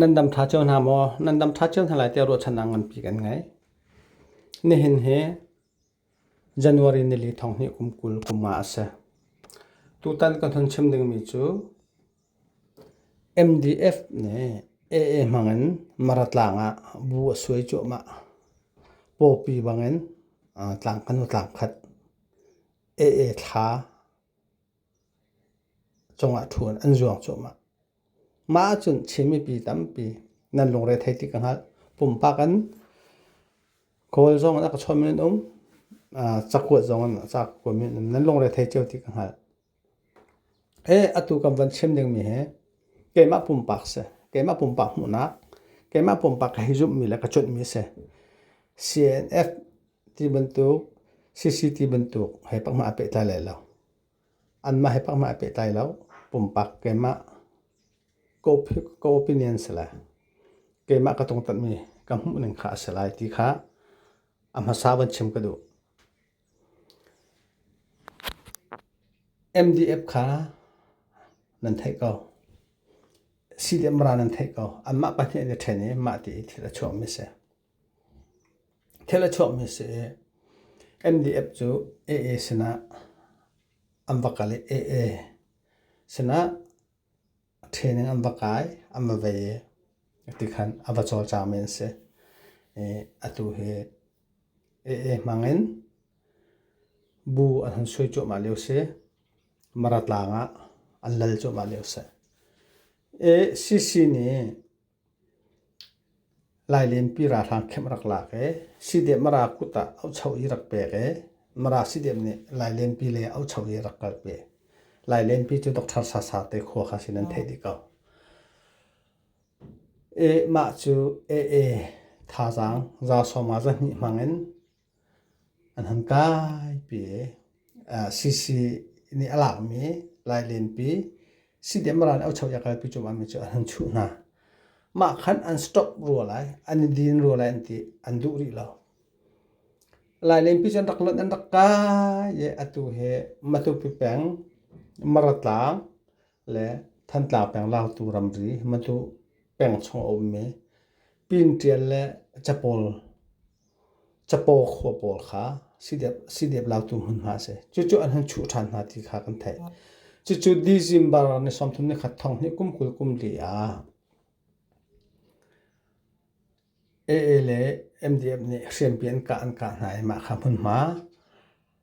Nan dam ṭha cio hna maw? Nan dam ṭha cio hna lai tiah ruahchannak nganpi kan ngei. Nihin hi January nili thonghnih kum kul kum nga a si. Tutan kan hun chim dingmi cu MDF nih AA hmangin Mara tlang ah bu a suai cuahmah. Pawpi bangin tlang kanu tlang khat, AA thla, cungah ṭhu in an zuang cuahmah. Mah ahcun Chin mipi tampi nan lungre thei ti ka hngalh. Pumpak in kawl zong in a ka chawnhmi an um, cakuat zong in cakuat in nan lungre thei cio ti ka hngalh. Atu kan van chim dingmi hi keimah pumpak si, keimah pumpak hmuhnak, keimah pumpak ka hei zumhmi le ka cunhmi a si. CNF ti bantuk CCT bantuk hei pakma pehtlai lai lo. Anmah hei pakma pehtlai lo. Pumpak keimah co-opinion si lai. Keimah ka tungtanmi ka hmuh ning kha a si lai ti kha a hmasa van chim ka duh. MDF kha nan theih ko. CDM ra nan theih ko. Anmah pahnih an i ṭhen i mah ti i thil a chuahmi a si. Thil a chuahmi a si i NDF cu AA sinah an va kal i AA sinah training an va kai an va vei i ti khan a va cawlcangmi an si. I atu hi AA hmangin bu an hun sui cuahmah lio si. Mara tlang ah an lal cuahmah lio si. ACC nih Lailenpi ralhrang kemh rak lak ee, Sidep Mara kut ah aucho i rak pek ee, Mara Sidep nih Lailenpi lei ah aucho i rak kal pi. Lailenpi cu Doctor Sasa te khua kha sin an theih dih ko. Mah cu AA thazaang za sawma za hnih hmang in An han kaipi i sisi nih a lakmi lailenpi sidemran i aucho i a kalpi cuahmahmi cu an han chuh hna. Mah khan an stop rua lai, an i din rua lai an ti, an duh rih lo. Lailenpi cu an rak lonh, an rak kai i atu hi Matupi peng Maratlang le Thantlang peng Lautu ramri Matu peng chung a ummi Pinṭial le Capawl Capaw khua pawl kha sidep latu hmun hna a si. Cucu an hung chuh ṭhan hna ti kha kan theih. Cucu December ni sawmthum ni khat thong hi kum kul kum li ah AA le MDF nih hriampi an kah an kah hna i mah kha hmunhma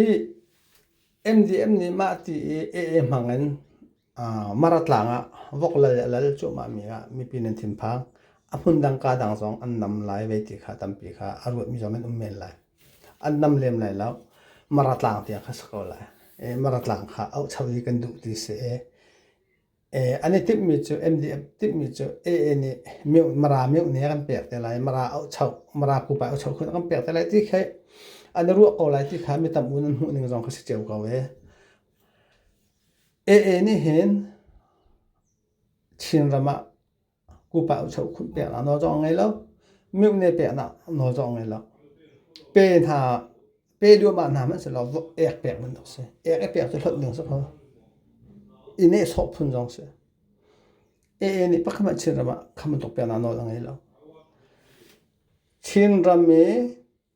I MDM nih mah ti i AA hmang in Maratlang ah vok lal le a lal cuahmah mi ah mipi nan thinphang. A hmundang kaa dang zong an nam lai vei ti kha tampi kha a ruahmi zong nan um men lai. An nam lem lai lo. Maratlang tiang kha si ko lai. I Maratlang kha auh cheu i kan duh ti si i An i timhmi cu MDF timhmi cu AA nih Mara meuh nih a kan pek te lai. Mara ohchoh, Mara pupa ohchoh khun a kan pek te lai ti khi an i ruah ko lai ti kha mi tam u nan hmuh ning zong kha si cio ko ve. AA nih hin Chinram ah Kupa ucho khun peknak nawl zong a ngei lo. Mihne peknak nawl zong a ngei lo. Pe hna, pe duahmah hna hmanh selaw ek pek bantuk a si. Ek i pek cu hlawt ding a si ko. I nehsawh phun zong a si. Ee nih pakhat hmanh Chinram ah khambantuk peknak nawl a ngei lo. Chinram i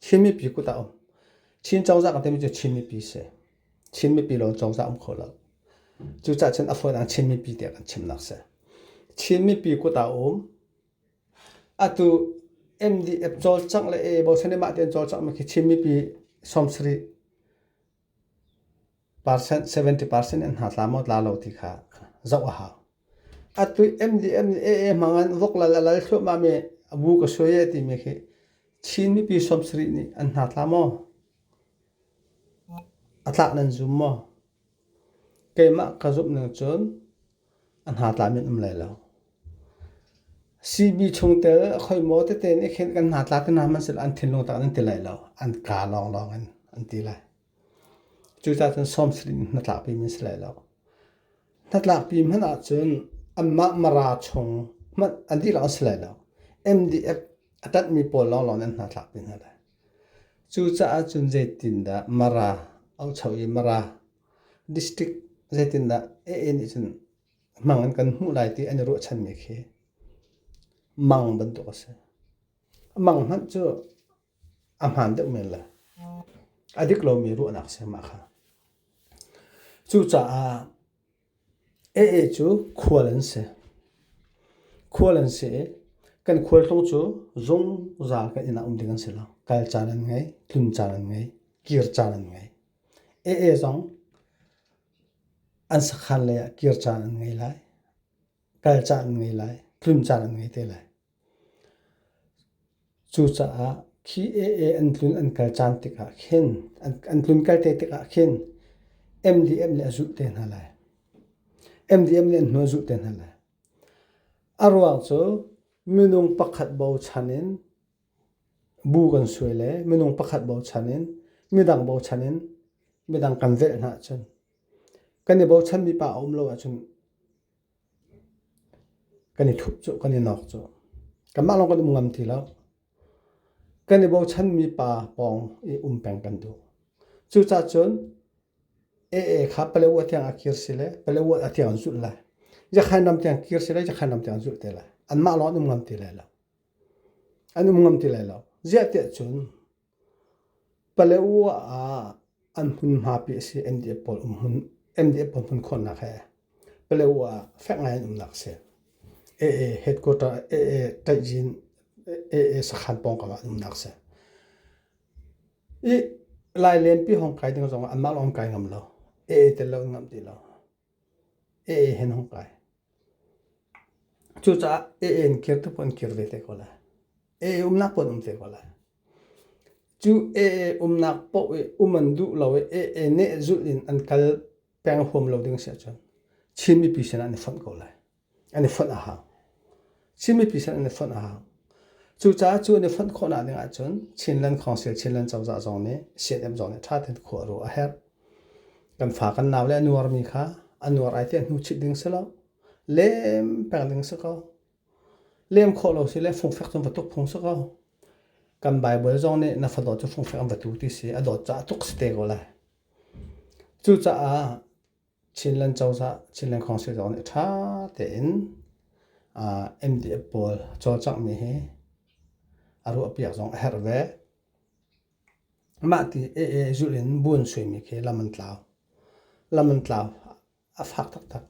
Chin mipi kut ah um. Chin cozah kan timi cu Chin mipi si. Chin mipi lawng cozah um kho lo. Cucah cun a fawi dang Chin mipi tiah kan chimnak si. Chin mipi kut ah um. Atu MDF cawlcangh le e bosan mah tein cawlcangh mi khi Chin mipi sawm sarih 70 percent in hna tla maw tla lo ti kha zoh a hau. A tuih MDM nih AA hmang an vok lal a lal thluahmah mi a bu ka suai e timi khi Chin mipi som sarih nih an hna tla maw? A tlak nan zum maw? Keimah ka zumh ning cun A hnatla men um lai lo. Sihni chungtel a khoimo tete nih khin kan hnatla te hna hmanhsehlaw an thinlung tah nan ti lai lo. An ka lawnglawng in an ti lai. Cucacun sawm sirih in hnatlakpi men si lai lo. Hnatlakpi hmanh ahcun anmah mara chung hmanh an ti lawng si lai lo. MDF a tanhmi pawl lawnglawng nan hnatlakpi hna lai. Cucaah cun zeitindah mara, aucho i mara District zeitindah AA nih cun hmang in kan hmuh lai ti an i ruahchanmi khi mang bantuk a si. Mang hmanh cu a hmaan deuh men le a dik lomi ruahnak si mah kha. Cucaah AA cu khual an si. Khual an si i kan khualtlung cu zungzal kan inn ah um ding an si lo. Kal caan an ngei, tlun caan an ngei, kir caan an ngei. Ee zong an sakhan lei ah kir caan an ngei lai, kal caan an ngei lai, tlim caan an ngei te lai. Cucaah khi ee an tlun an kal caan tikah khin an tlun kal te tikah khin MDM nih a zulh te hna lai. MDM nih an hnu a zulh te hna lai. A ruang cu minung pakhat bochan in Bu kan suai le minung pakhat bochan in midang bochan in midang kan velh hna ahcun kan i bochanmi pa a um lo ahcun kan i thup cu kan i nawk cu kanmah lawng kan um ngam ti lo kan i bochanmi pa pawng i um peng kan duh cucah cun aa kha paleo tiang a kir si le paleo a tiang an zulh lai jakhain ram tiang kir si le jakhain ram tiang an zulh te lai anmah lawng an um ngam ti lai lo an um ngam ti lai lo. Ziahtiah cun Paletwa ah an hmunhmapi a si NDF pawl um hmun NDF pawl hmun khawhnak he Paletwa ah fek ngai an umnak a si. AA headquarter AA Taijin AA sakhan pawng kam ah an umnak a si. I lailenpi hong kai ding zongah anmah lawng kai ngam lo. AA tel lo an ngam ti lo. AA hen hong kai. Cucaah a-en kir tu paoh an kir ve te ko lai. A-e umnak paoh an um te ko lai. Cu a-e umnak paoh i um an duh lo i a-e neh zulh in an kal peng huam lo ding a si ahcun Chin mipi sinah an i fonh ko lai. An i fonh a hau. Chin mipi sin an i fonh hang. Cucaah cu an i fonh khawhnak ding ahcun Chinland Council Chinland cozah zong nih CNM zong nih ṭha tein khuah ruah a herh. Kan fa kan nau le a nuarmi kha a nuar ai tiah hnu chit ding si lo. Lem peng ding si ko. Lem khawh lo si le fungfek cun va tuk phung si ko. Kan Bible zong nih na fadawt cu fungfek an va tu ti si. A dawt caah tuk si te ko lai. Cucaah Chinland cozah, Chinland Council zong nih ṭha tein MDF pawl cawlcanghmi hi a ruahpiak zong a herh ve. Mah ti ee zulh in buan suimi khi lam an tlau. Lam an tlau a fak taktak.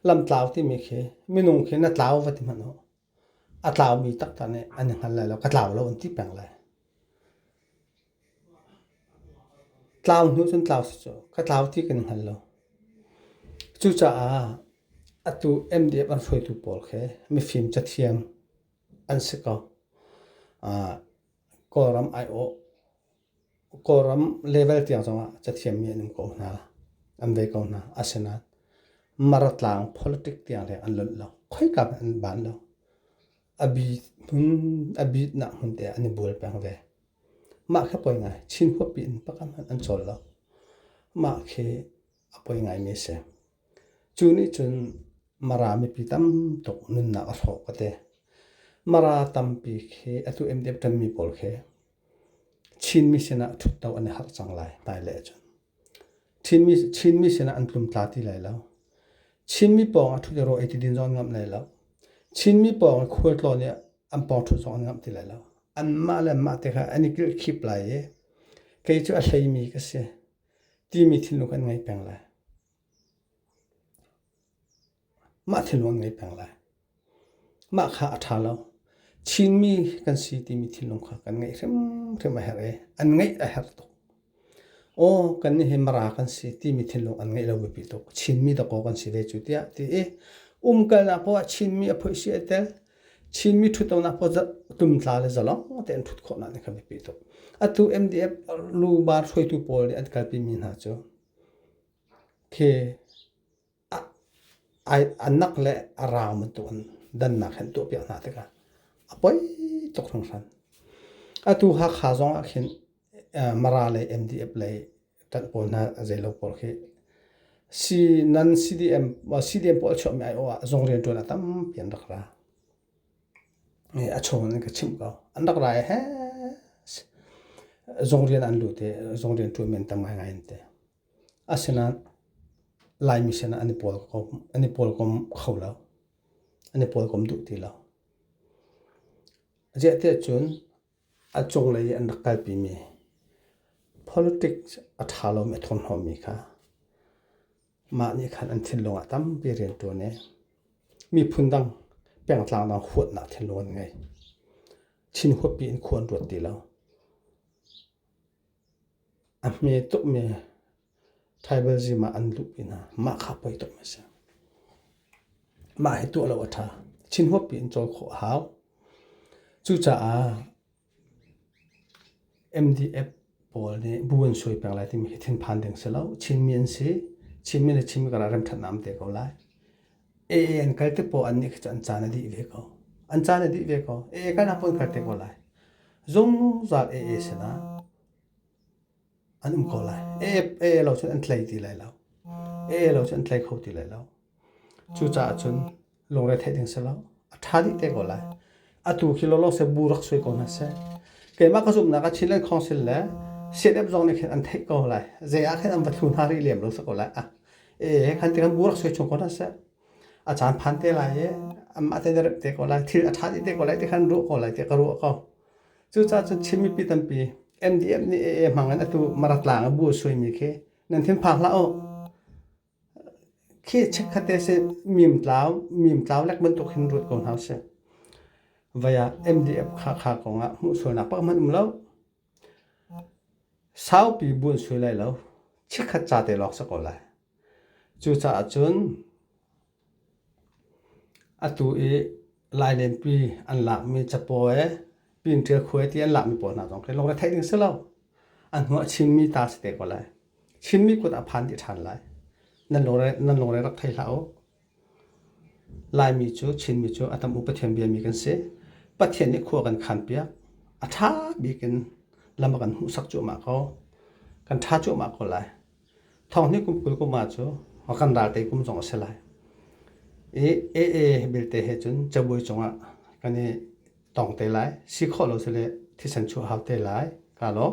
Lam tlau timi khi minung khi na tlau va ti hmanh u. A tlaumi takta nih an i hngal lai lo. Ka tlau lo an ti peng lai. Tlau hnu cun tlau si cu ka tlau ti kan i hngal lo. Cucaah atu MDF an hruaitu pawl khi mifim cathiam an si ko. Kawlram aiawh Kawlram level tiang zongah cathiammi an um ko hna, an ve ko hna. Asinain Maratlang politic tiang leng an lonh lo. Khoika hmanh an ban lo. Abit hmun, abitnak hmun te ah an i bual peng ve. Mah khi a poi ngai. Chin huappi in pakhat hmanh an cawl lo. Mah khi a poi ngaimi a si. Cu nih cun Mara mipi tamtuk nunnak a hrawh ka ti. Mara tampi khi atu MDF ṭanmi pawl khi Chinmi sinah ṭhutdo an i harh cang lai hmailei ahcun. Chinmi, Chinmi sinah an tlum tla ti lai lo. Chinmi pawngah ṭhut i rawh i tidin zong an ngamh lai lo. Chinmi pawngah khualtlawn i an pawngṭhut zong an ngamh ti lai lo. Anmah le anmah te kha an i kilkhip lai i kei cu a hleimi ka si timi thinlung kha an ngei peng lai. Mah thil hmang an ngei peng lai. Mah kha a ṭha lo. Chinmi kan si timi thinlung kha kan ngeih hrimhrim a herh i an ngeih a herh tuk. Aw kannih hi Mara kan si timi thinlung an ngeih lo biapi tuk. Chinmi dakaw kan si ve cu tiah ti i umkalnak poah ah Chinmi a phoih si ai tel. Chinmi ṭhutlonak poah tumtla le zalong tein ṭhut khawhnak nih khan a biapi tuk. Atu MDF lubar hruaitu pawl nih an kalpimi hna cu khi a nak le a raam bantukin dannak hi an tuahpiak hna tikah a poi tuk hringhran. Atu Hakha zongah khin Mara lei MDF lei ṭanh pawl hna zeilo pawl khi nan CDM CDM pawl a chuahmi aiawh ah zung rianṭuan a tampi an rak ra. A chung in an ka chimh ko. An rak ra i hee zung rian an lut i zung rian ṭuan men tam ngaingai an ti. Asinain Laimi sin ah an i pawlkom kho lo. An i pawlkom duh ti lo. Ziah tiah cun a cunglei i an rak kalpimi politics a ṭha lomi, a thurhnawmmi kha mah nih khan an thinlung ah tampi a rian ṭuan i miphun dang pengtlang dang huatnak thinlung an ngei. Chin huappi in khua an ruat ti lo. A hme tukmi thaibal zim ah an luh pinah mah kha poi tuk mi a si. Mah hi tuah lo a ṭha. Thinhuap piin cawl khawh a hau. Cucaah MDF pawl nih bu an suai peng lai timi hi thinphan ding si lo. Chinmi an si. Chinmi le Chinmi karah remṭhatnak an pe ko lai. AA an kal te po an nih kha an caan a dih ve ko. An caan a dih ve ko. AA kan apun kal te ko lai. Zungzal AA sila an um ko lai. AA lo cun an tlei ti lai lo. AA lo cun an tlei kho ti lai lo. Cucaah cun lungre theih ding si lo. A ṭha dih te ko lai. atu khi lawlaw se bu rak sui ko hna seh keimah ka zumhnak ah Chinland Council le CNF zong nih khin an theih ko lai zei ah khin an va thlu hna rih lem lo sak ko lai ah e kan ti kan bu rak sui chung ko hna seh a caan phan te lai e amma te rep te ko lai thil a tha te ko lai ti khan ruah ko lai ti ka ruah ko cucaah cun Chin mipi tampi MDF nih AA hmang in atu maratlang a bu sui mi khi nan thin phak hlah u khi chekkhat te si mimtlau mimtlau lek bantuk hin ruat ko hna usih. Vai ah MDF kha kha kong ah hmuh sualnak pak hmanh um lo. Saupi buan sui lai lo. Chikkhat ca te lawk sa ko lai. Cucaah cun atu i Lainenpi an lakmi capawi, pinṭil khuai ti an lakmi pawl hna zong khi lungretheih ding si lo. An hnu a chinmi ta si te ko lai. Chinmi kut a phan dih ṭhan lai. Nan lungre, nan lungre rak thei hlah u. Laimi cu, Chinmi cu a tam upathiam biami kan si. Pathian nih khua kan khanpiak. A ṭha bik in lam a kan hmuhsak cuahmah ko. Kan ṭha cuahmah ko lai. Thonghni kum kul kum ah cu kan ralte kum zong a si lai. I AA belte he cun cabuai cungah kan i tong te lai. Si khawh lo si le thisen chuah hau te lai. Ka lawm.